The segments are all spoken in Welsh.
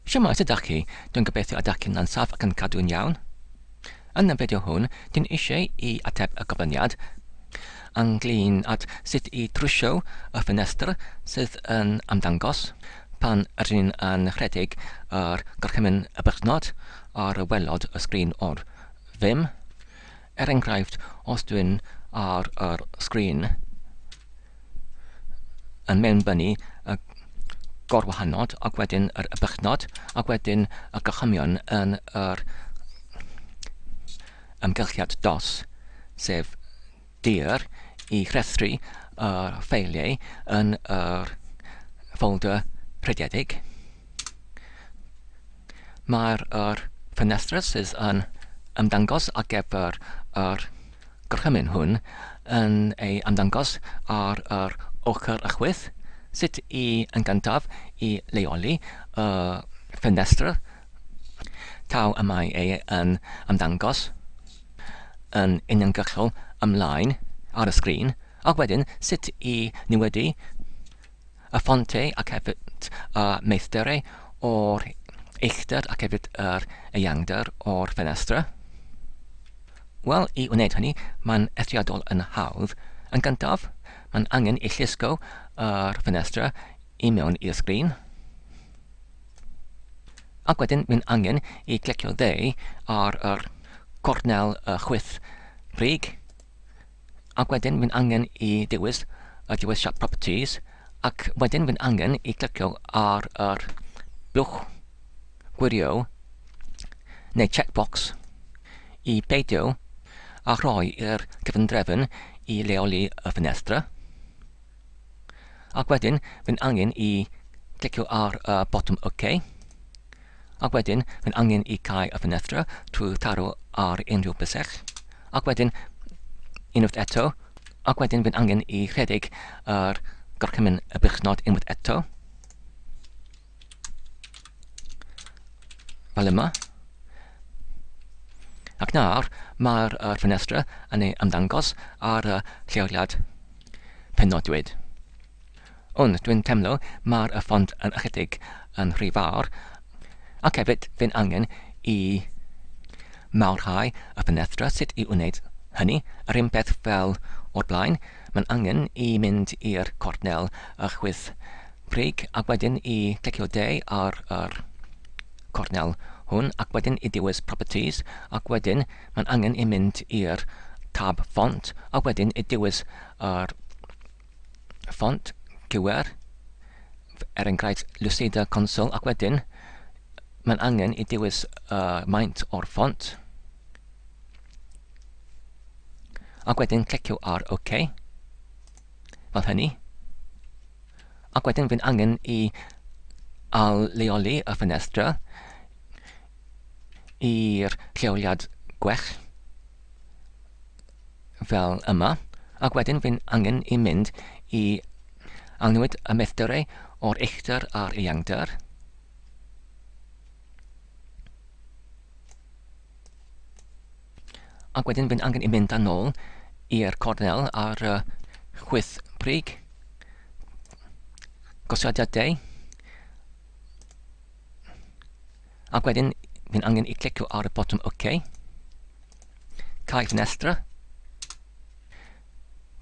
Shwmae, sut dach chi? Dwi'n gobeithio y dach chi'n lân saff ac yn cadw'n iawn. Yn y fideo hwn, dwi'n eisiau i ateb y gofyniad ynglŷn at sut i drwsio y ffenestr sydd yn ymddangos pan rydyn ni yn rhedeg yr gorchymyn y berchnod ar waelod y sgrin o'r fim. Er enghraifft, os dw i'n ar yr sgrin yn mewnbynnu y gorwahanod ac wedyn yr ybychnod ac wedyn y gorchymyn yn yr amgylchiad dos, sef dir, i rhestru y ffeiliau yn yr ffolder rhediedig. Mae'r yr ffenestr sydd yn ymddangos ar gyfer yr gorchymyn hwn yn ei ymddangos ar yr ochr y chwith. Sut i yn gyntaf i leoli y ffenestr taw y mae ei yn ymddangos yn uniongyrchol ymlaen ar y sgrin, ac wedyn sut i niwedu y ffontau ac hefyd y meithderau o'r uchder ac hefyd yr eangder o'r ffenestr. Wel, i wneud hynny, mae'n eithriadol yn hawdd. Yn gyntaf, mae'n angen i llusgo yr ffenestr i mewn i'r sgrin. Ac wedyn, mae'n angen i glicio dde ar yr cornel y chwith brig. ac wedyn fi'n angen i dewis y dewis siap properties ac wedyn fi'n angen i clicio ar yr blwch gwirio neu checkbox i beidio a rhoi i'r cyfundrefn i leoli y ffenestr. Ac wedyn, fy'n angen i clicio ar y botwm OK. Ac wedyn, fy'n angen i cau y ffenestr trwy taro ar unrhyw bysell. Ac wedyn, unwaith eto, ac wedyn fy'n angen i rhedeg yr gorchymyn y birchnod unwaith eto. Fel yma. Ac nawr, mae'r uh, ffenestr yn ei ymddangos ar y uh, lleoliad penodwyd. Ond dwi'n temlo mae'r uh, ffont yn ychydig yn rhy fawr, ac hefyd fe'n angen i mawrhau y ffenestr sut i wneud hynny, yr un peth fel o'r blaen, Mae'n angen i mynd i'r cornel a chwyth Brig ac wedyn i clicio D ar yr cornel hwn ac wedyn i dewis Properties ac wedyn mae'n angen i mynd i'r tab Font a wedyn i dewis yr ffont, QR, er enghraifft Lucida Console ac wedyn mae'n angen i dewis y maint o'r ffont. Ac wedyn clicio ar OK. Fel hynny. Ac wedyn fi'n angen i al-leoli y ffenestr i'r lleoliad gwell fel yma. Ac wedyn fi'n angen i mynd i alnwyd y meithderau o'r uchder a'r iangder. Ac wedyn bydd angen i mynd â nôl i'r cornel ar y chwyth brig, gosiadau deu, ac wedyn bydd angen i clicio ar y botwm OK, cau ffenestr,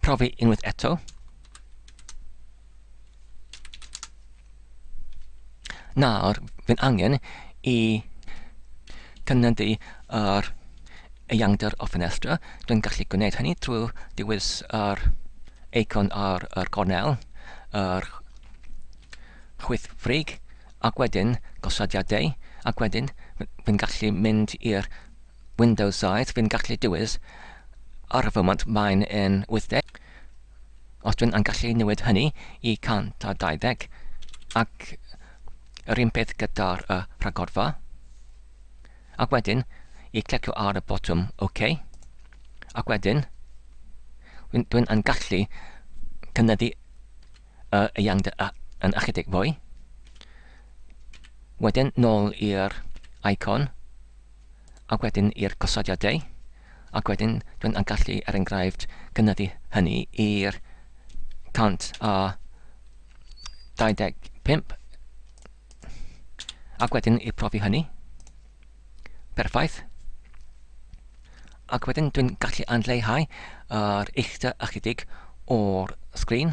Profi unwaith eto. Nawr, fi'n angen i cynyddu yr eiangder o ffenestr. Dwi'n gallu gwneud hynny trwy dewis yr eicon ar yr gornel, yr chwyth ffrig, ac wedyn gosodiadau, ac wedyn fi'n gallu mynd i'r Windows 7, fi'n gallu dewis ar y foment mae'n yn 80. Os dwi'n yn gallu newid hynny i 120 ac yr un peth gyda'r uh, rhagorfa. Ac wedyn, i clicio ar y botwm OK. Ac wedyn, dwi'n yn gallu cynyddu y iangd yn ychydig fwy. Wedyn, nôl i'r icon. a wedyn i'r gosodiadau, ac wedyn dwi yn gallu, er enghraifft, cynyddu hynny i'r 125, ac wedyn i profi hynny. Perffaith. Ac wedyn dwi'n gallu anleihau yr uchder ychydig o'r sgrin.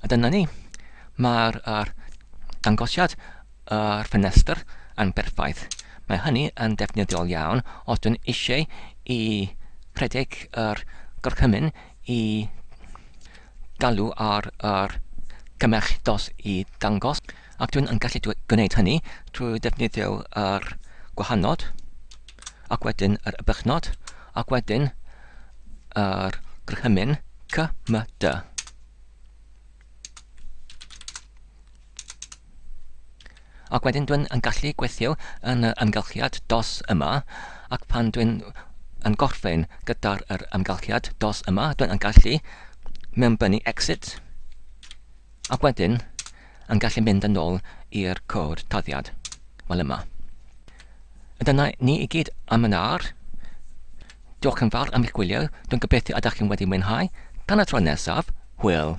A dyna ni. Mae'r er, dangosiad yr er ffenestr yn berffaith. Mae hynny yn defnyddiol iawn os dwi'n eisiau i rhedeg yr er gorchymyn i galw ar yr er cymell dos i dangos ac dwi'n yn gallu gwneud hynny trwy ddefnyddio'r er gwahanod. ac wedyn yr ybychnod, ac wedyn yr gryhymyn cy, my, dy. Ac wedyn dwi'n yn gallu gweithio yn y ymgylchiad dos yma, ac pan dwi'n yn gorffen gyda'r yr ymgylchiad dos yma, dwi'n yn gallu mewnbynnu exit, ac wedyn yn gallu mynd yn ôl i'r cod tarddiad. Wel yma. A dyna ni i gyd am yn ar. Diolch yn fawr am eich gwylio. Dwi'n gobeithio ydych chi'n wedi mwynhau. Tan y tro nesaf, hwyl!